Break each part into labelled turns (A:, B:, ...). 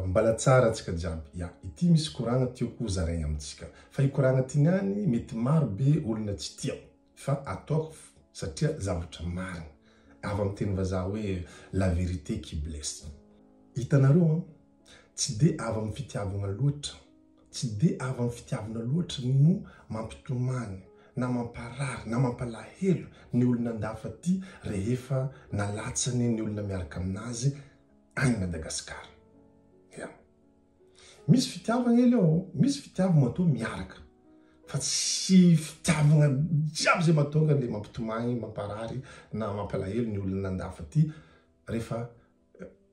A: Mbala tsara antsika jiaby. Ya, ity misy koragna tiako ho zaraigna amintsika. Fa i koragna ty niany mety maro be olona tsy tia. Fa ataoko satria zavatra marigny. Avy amin'ny teny vazaha hoe la vérité qui blesse. Hitanareo an, tsy dia avy amin'ny fitiavagna loatra, tsy dia avy amin'ny fitiavagna loatra no mampitomany na mamparary na mampalahelo ny olona an-dafa ty rehefa nalatsany ny olona miaraka aminazy any Madagascar. Ya. Misy fitiavagna elie ô, misy fitiavagna matoa miaraka fa tsy fitiavagna jiaby zay mahatonga le mampitomagny, mamparary na mampalahelo ny olona andafy aty rehefa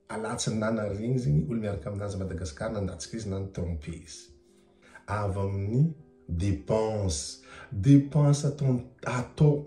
A: alatsany na nariagny zegny olo miaraka aminazy à Madagascar nandatsaka izy na ni tromper izy. Avy amin'ny dépense, dépense atao atao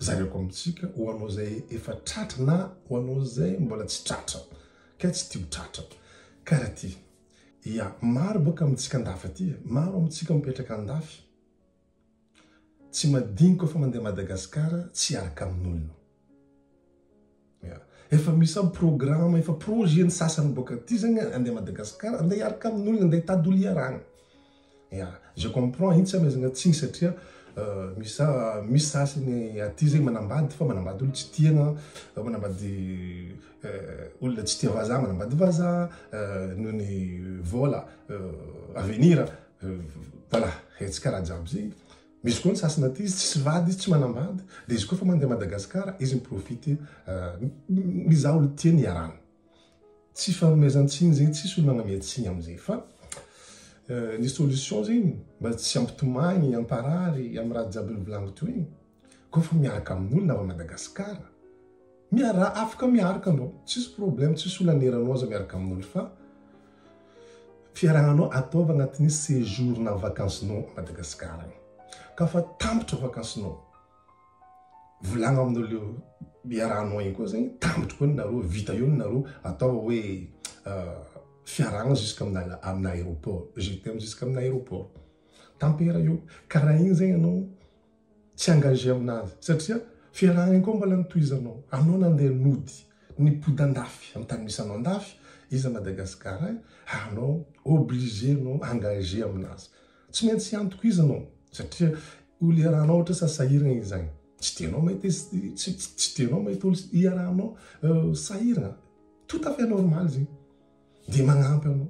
A: Zaraiko amintsika ho anao izay efa tratra na ho anao izay mbola tsy tratra kay tsy tia ho tratra. Karaha ty. Ia, maro bôka amintsika andafy aty e. Maro amintsika mipetraka andafy. Tsy madiniky koa fa mandeha Madagasikara tsy hiaraka amin'olona. Efa misy zany programme, efa projet ny sasany boaka aty zany hoe andeha Madagascar, andeha hiaraka amin' olona, andeha hitady olo hiarahana. Ya, je comprends, iny tsy hamaizana tsiny satria misy sasany aty zay manambady fa manambady olo tsy tiana, manambady olona tsy tia vazaha, manambady vazaha noho ny vola, avenir, voilà, tsy karaha jiaby zay. Misy koa ny sasany aty izy tsisy vady izy tsy manambady dia izy koa efa mandeha Madagascar izy miprofite mizaha olon-tiany iarahana. Tsy fanomezan-tsiny zegny tsisy olona agname-tsiny amizay fa ny solution zegny mba tsy ampitomagny amparary amy raha jiaby novolaniko teo igny koa fa miaraka amin'olona avy Madagascar Miaraha afaka miaraka anao tsisy problème tsisy olona aneranao aza miaraka amin'olo fa fiarahana anao ataovy agnatin'ny séjour na vacances nao à Madagascar any ka fa tampitra vacances nao volagno aminao leo iarahanao igny koa zegny tampitra koa ny nareo vita eo ny nareo ataovy hoe fiarahana jusque amina amina aéroport je t'aime jusque amina aéroport tampera eo karaha igny zegny anao tsy engagé aminazy satria fiarahany koa mbola notohizanao anao nandeha nody nipody andafy am tany misy anao andafy iza Madagascar ay anao obligé anao engagé aminazy tsy maintsy hiantoko izy anao satria olo iarahanao ohatra sa sahiragna izy agny tsy tianao mahita izy tsy tsy tianao mahita olo iarahanao sahiragna tout à fait normal zegny de magnampy anao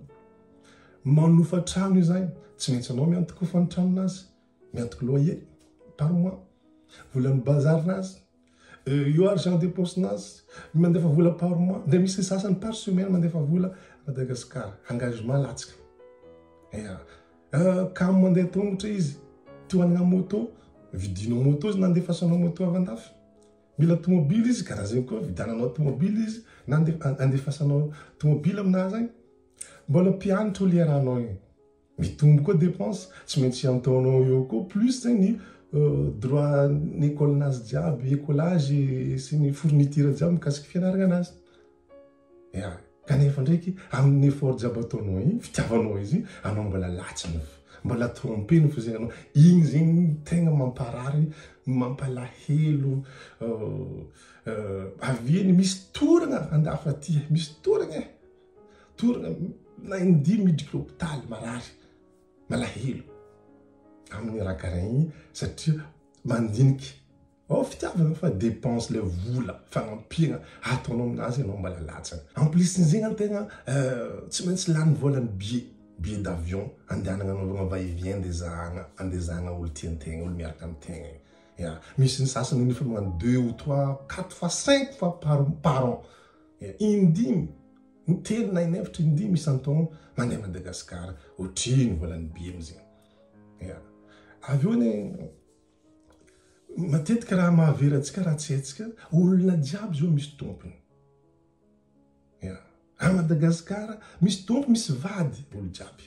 A: manofa trano izy agny tsy maintsy anao miantoko fa ny tranonazy Miantoko loha ie, par mois, volan'ny bazar nazy, io argent de poche nazy, mandefa vola par mois, dia misy ny sasany par semaine mandefa vola Madagascar, engagement latsaka. Ya, kamo mandeha tongotra izy, te hanana moto, vidinao moto izy na andefasanao moto avy andafy. Mila tomobily izy, karaha zegny koa, vidiananao tomobily izy na andefasanao tomobily aminazy agny. Mbola mpianatra olera anao io. Mitombo koa dépense, tsy maintsy ataonao eo koa plus zay ny droit ny école nazy jiaby, écolage sy ny fourniture jiaby mikasiky fianaragna anazy. Ya, kanefa ndraiky amin'ny effort jiaby ataonao igny, fitiavanao izy igny, anao mbola latsany fo, mbola tromper-ny fo zegny anao, igny zegny tegna mamparary, mampalahelo, avy eo ny misy toragna andafy aty e, misy toragna e. Toa naindia miditra hopitaly marary malahelo amin'ny ragarin iny satria mandinika ao fitiavana fa dépense ilay vola fanampiana ataonao aminazy ianao mbola latsany. En plus ny zegny tegna euh, tsy maintsy lany vola ny billet billet d'avion andehanagna anaovagna va et vient ndeha zahagna andeha zahagna olo tiantegna olo miaraka amy tegna e ya misy ny sasany efa magnano deux ou trois quatre fois cinq fois par par an Indimy, ny telo na in'efatra indimy isan-taona mandeha Madagasikara, ohatrin'ny volan'ny bills iny. Ya. Avy eo anie, matetika raha mahavery antsika raha tsy haintsika, olona jiaby izao misy tompony. Ya. A Madagasikara, misy tompo, misy vady, olo jiaby.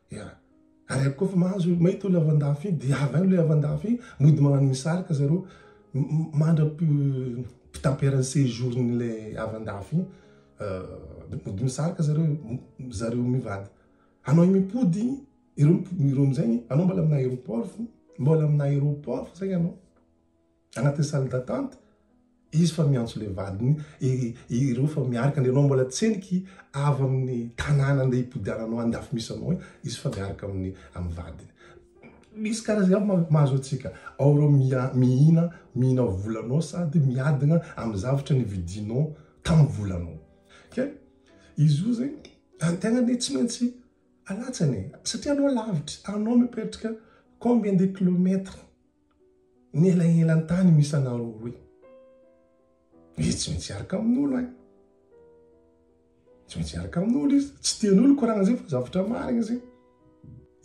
A: Hera. Ary aiko koa fa mahazo hoe mahita olo avy andafy iny dia avy any ilay avy andafy iny mody magnano misarika zareo mandra mpitampera ny séjour n'ilay avy andafy iny mody misarika zareo zareo mivady anao mipody iny ireo ireo amizay anao mbola amina aéroport mbola amina aéroport fa zay anao Anatin'ny salle d'attente izy fa miantso ilay vadiny, ireo fa miaraka andeha anao mbola tsy heniky avy amin'ny tanàna andeha hipodiananao andafy misy anao iny, izy fa miaraka amin'ny amin'ny vadiny. Misy karazany aby mahazo antsika, ao ireo mihina mihina volanao sady miadana amin'ny zavatra nividianao tamin'ny volanao. Ka izy io zegny ny tenany hoe tsy maintsy alatsany e, satria anao lavitra, anao mipetraka combien de kilomètres Nelanelan-tany misy anao roa roy. Izy tsy maintsy hiaraka amin'olo an. Tsy maintsy hiaraka amin'olo izy. Tsy tian'olo koragna zay fa zavatra marigny zay.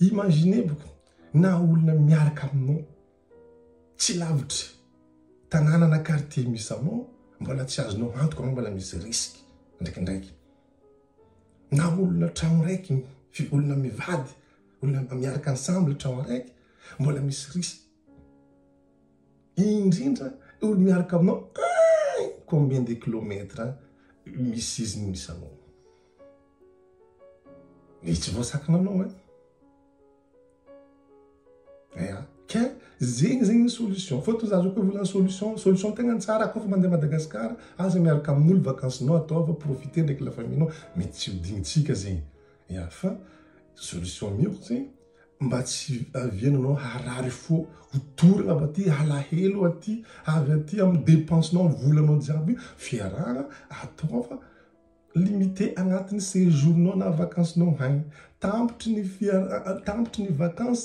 A: Imaginez boko na olona miaraka aminao tsy lavitry tanàna na quartier misy anao mbola tsy azonao antoka anao mbola misy risque ndraikindraiky. Na olona tragno raiky olona mivady Olona mba miaraka ansamble ny trano araiky mbola misy risa. Indrindra olo miaraka aminao aign combien de kilomètre misy izy no misy anao. Dia tsy voasakana anao an. Eya ka zegny zegny ny solution fa toa za zao koa volana solution solution tegna tsara koa fa mandeha Madagascar aza miaraka amin'olo vacances-nao ataova profiter ndraiky la famille-nao mety tsy ho dignintsika zegny. Ya fa solution mihitsy tsy mba tsy aviananao harary fo ho dorana avy aty alahelo aty avy aty amin'ny dépense nao volanao jiaby io fiarahana ataova limite agnatin'ny séjour nao na vacance nao haigny tampotry ny fiara tampotry ny vacance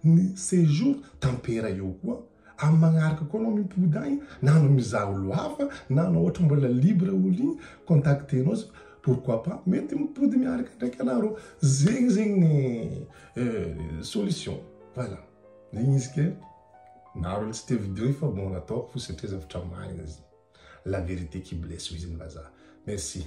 A: ny séjour tampera eo koa Amin'ny magnaraka koa anao mimpody agny na anao mizaha olo hafa na anao ohatra mbola libre olo igny contacter anao za pourquoi pas mety mipody miaraka ndraiky anah rô zegny zegny ny solution voilà zegny izy ke maro olo tsy te video io fa bon nataoko fo satria zavatra marigna zegny la vérité qui blesse hoy zegny vazaha merci.